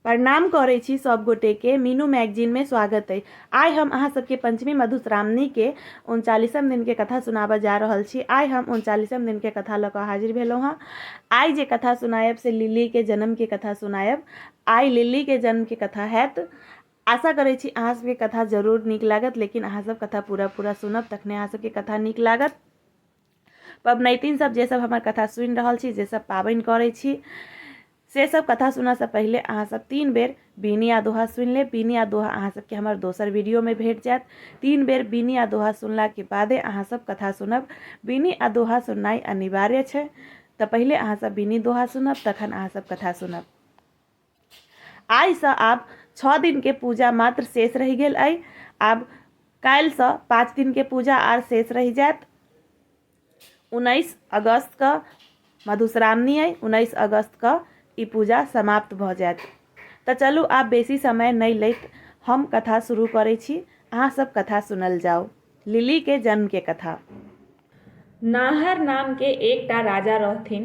प्रणाम करै छी सब गोटे के मीनू मैगजीन में स्वागत है आइ हम अहाँ सबके पंचमी मधुश्रावणी के उनचालीसम दिन के कथा सुनाबऽ जा रहल छी आइ हम उनचालीसम दिन के कथा लऽ कऽ हाजिर भेलहुँ हँ आइ जे कथा सुनायब से लिली के जन्म के कथा सुनायब आइ लिली के जन्म के कथा हैत आशा करै छी अहाँ सबके कथा जरूर नीक लागत लेकिन अहाँ सब कथा पूरा पूरा सुनब तखने अहाँ सबके कथा नीक लागत पबनैतिन सब जे सब हमर कथा सुनि रहल छी जे सब पाबनि करै छी से सब कथा सुनऽसँ पहिले अहाँ सब तीन बेर बीनी आ दोहा सुनि लेब बीनी आ दोहा अहाँ सबके हमर दोसर वीडियोमे भेट जायत तीन बेर बीनी आ दोहा सुनलाके बादे अहाँ सब कथा सुनब बीनी आ दोहा सुननाइ अनिवार्य छै तऽ पहिले अहाँ सब बीनी दोहा सुनब तखन अहाँ सब कथा सुनब आइ सँ आब छओ दिन के पूजा मात्र शेष रहि गेल अइ आब काल्हि सँ पाँच दिन के पूजा आर शेष रहि जायत उन्नैस अगस्त के मधुश्रावणी अइ उन्नैस अगस्त के ई पूजा समाप्त भऽ जायत तऽ चलू आब बेसी समय नहि लैत हम कथा शुरू करै छी अहाँ सब कथा सुनल जाउ लिली के जन्म के कथा नाहर नाम के एकटा राजा रहथिन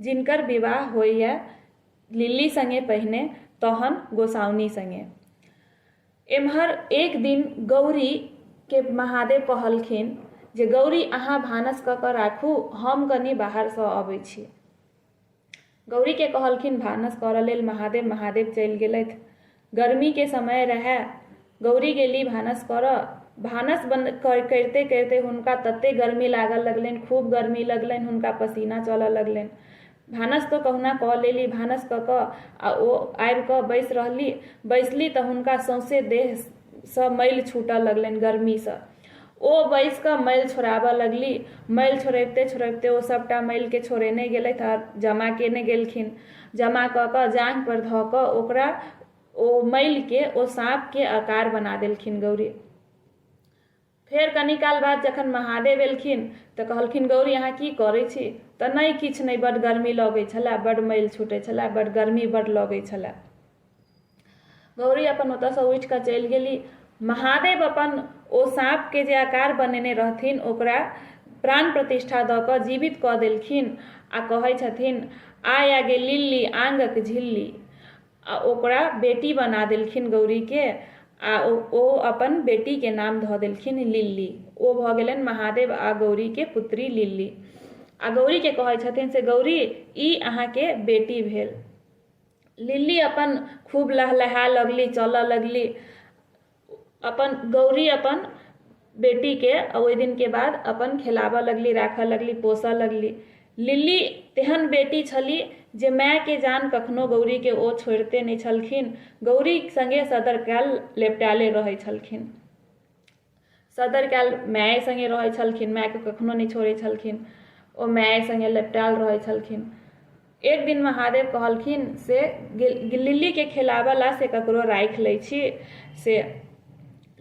जिनकर विवाह होइए लिल्ली सङ्गे पहिने तहन गोसाउनि सङ्गे। एम्हर एक दिन गौरीके महादेव कहलखिन जे गौरी अहाँ भानस कऽ कऽ राखू हम कनि बाहरसँ अबै छी। गौरीके कहलखिन भानस करऽ लेल महादेव, महादेव चलि गेलथि। गरमीके समय रहए। गौरी गेली भानस करऽ। भानस करिते-करिते हुनका तते गरमी लागऽ लगलैन, खूब गरमी लगलैन। हुनका पसीना चलऽ लगलैन। भानस तँ कहुना कऽ लेली। भानस कऽ कऽ आ ओ आबि कऽ बैस रहली। बैसली तँ हुनका सौंसे देहसँ मैल छूटऽ लगलैन गरमीसँ। ओ बैस कऽ मैल छोड़ाबऽ लगली मैल छोड़ैबते छोड़ैबते ओ सभटा मैलके छोड़ेने गेलथि आ जमा केने गेलखिन जमा कऽ कऽ जाँघ पर धऽ कऽ ओकरा ओ मैलके ओ साँपके आकार बना देलखिन गौरी फेर कनी काल बाद जखन महादेव एलखिन तऽ कहलखिन गौरी अहाँ की करै छी तऽ नहि किछु नहि बड गर्मी लगै छलए बड मैल छूटै छलए बड गर्मी बड लगै छलए गौरी अपन ओतयसँ उठि कऽ चलि गेली महादेव अपन ओ साँपके जे आकार बनेने रहथिन ओकरा प्राण प्रतिष्ठा दऽ कऽ जीवित कऽ देलखिन आ कहै छथिन आय आगे लिल्ली आंगक झिल्ली आ ओकरा बेटी बना देलखिन गौरीके आ ओ अपन बेटीके नाम धऽ देलखिन लिल्ली ओ भऽ गेलनि महादेव आ गौरीके पुत्री लिल्ली आ गौरीके कहै छथिन से गौरी ई अहाँके बेटी भेल लिली अपन खूब लहलहा लगली चलऽ लगली अपन गौरी अपन बेटीके ओहि दिनके बाद अपन खेलाबऽ लगली राखऽ लगली पोसऽ लगली लिली तेहन बेटी छली जे मायके जान कखनो गौरीके ओ छोड़िते नहि छलखिन गौरी सङ्गे सदर काल लेपटाएले रहै छलखिन सदर काल माय संगे रहै छलखिन माय के कखनो नहि छोड़ै छलखिन ओ माय संगे लपटाल रहै छलखिन एक दिन महादेव कहलखिन से लिली के खेलाबऽ ला से ककरो राखि लै छी से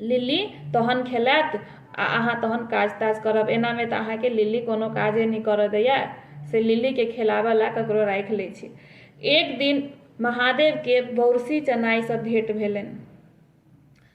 लिली तहन खेलायत आ अहाँ तहन काज ताज करब एना में तऽ अहाँके लिली कोनो काजे नहि करऽ दैया से लिली के खेलाबऽ ला ककरो राखि लै छी एक दिन महादेव के बौरसी चनाई सब भेंट भेलनि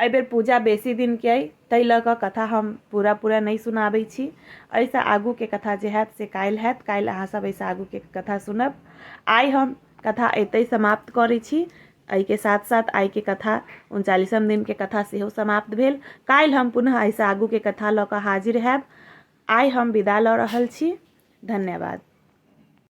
एहि बेर पूजा बेसी दिन के अइ ताहि लऽ कऽ कथा हम पूरा पूरा नहि सुनाबै छी एहिसँ आगूके कथा जे हैत से काल्हि हैत काल्हि अहाँसभ एहिसँ आगूके कथा सुनब आइ हम कथा एतहि समाप्त करै छी एहिके साथ साथ आइके कथा उनचालीसम दिनके कथा सेहो समाप्त भेल काल्हि हम पुनः एहिसँ आगूके कथा लऽ कऽ हाजिर हैब आइ हम विदा लऽ रहल छी धन्यवाद